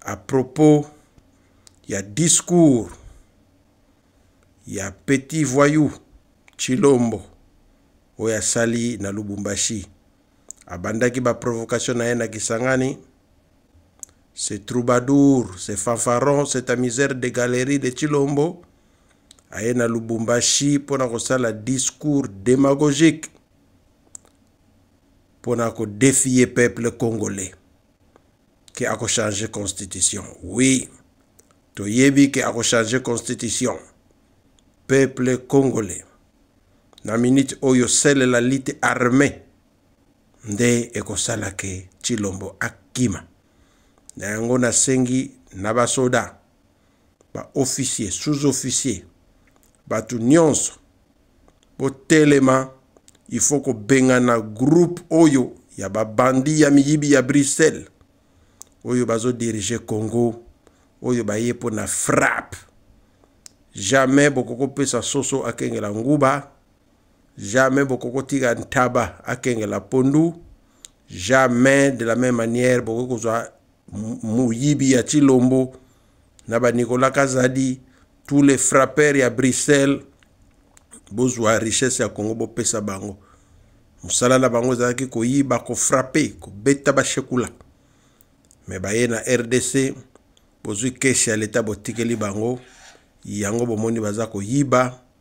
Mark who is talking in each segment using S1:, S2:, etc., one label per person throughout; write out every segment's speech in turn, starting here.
S1: A propos ya discours ya petit voyou Tshilombo oyo asali na Lubumbashi, abandaki ba provocation na ye na Kisangani. Ce troubadour, ce fanfaron, cet amuseur de galerie de Tshilombo aye na Lubumbashi mpo na kosala discours demagogique mpo na kodefier peuple congolais. ke akochange constitution oui toyebi ke akochange constitution peuple congolais na minute oyo sele la lite armée nde ekosala ke tshilombo akima na yango nasengi na basoda baofficier sous-officier bato nyonso botelema il faut kobengana groupe oyo ya babandi ya miyibi ya bruxelles oyo bazodirige congo oyo baye mpo na frappe jamais bokoki kopesa soso akengela nguba jamais bokoki kotika ntaba akengela pondu jamais de la même manière bokoki kozwa moyibi ya chilombo na banicolas kazadi tous les frappeurs ya bruxelles bozwa richesse ya congo bopesa bango mosala na bango ezalaki koyiba kofrape kobeta bashekula me baye na rdc bozwi kesi ya leta botikeli bango yango bomoni baza koyiba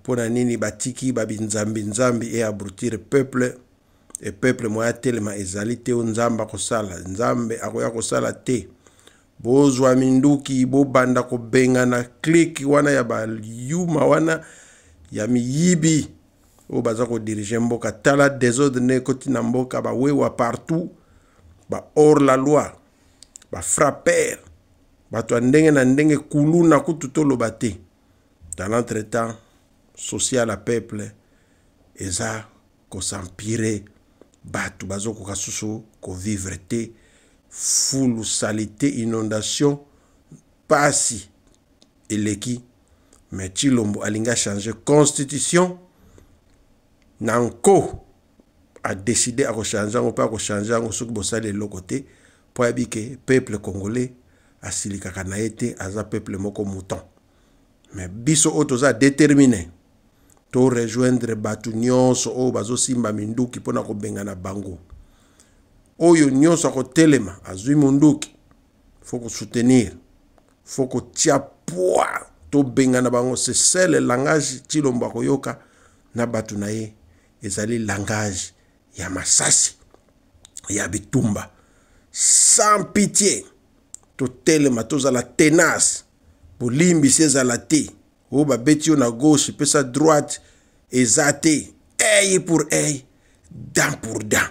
S1: mpo na nini batiki babinzambi nzambi e abrutir peuple e peuple moye atelema ezali te o nzambe akosala nzambe akoya kosala te bozwa minduki bobanda kobengana klike wana ya bayuma wana ya miyibi oyo baza kodirige mboka tala desordre nde ekoti na mboka bawewa partout ba hors la loi bafrapper bato ya ndenge na ndenge kuluna kutu toloba te dans l'entretemps souci ya la peuple eza kosampire bato bazokoka susu kovivre te fulu salite inondation mpasi eleki mais tshilombo alingi achange constitution na nko adeside akochange yango mpe akochange yango soki bosali eloko te mpo ayebi ke peuple congolais asilikaka na ye te aza peuple moko mouton me biso oyo toza détermine to rejoindre bato nyonso oyo bazosimba minduki mpo na kobengana bango oyo nyonso akotelema azwi monduki fo kosoutenir fo kotia pwa tobengana bango sesele langage cilombo akoyoka na bato na ye ezali langage ya masasi ya bitumba sans pitie totelema tozala tenace bolimbisi ezala te oyo babeti yo na gauche pesa droite eza te eye pour eye dent pour dent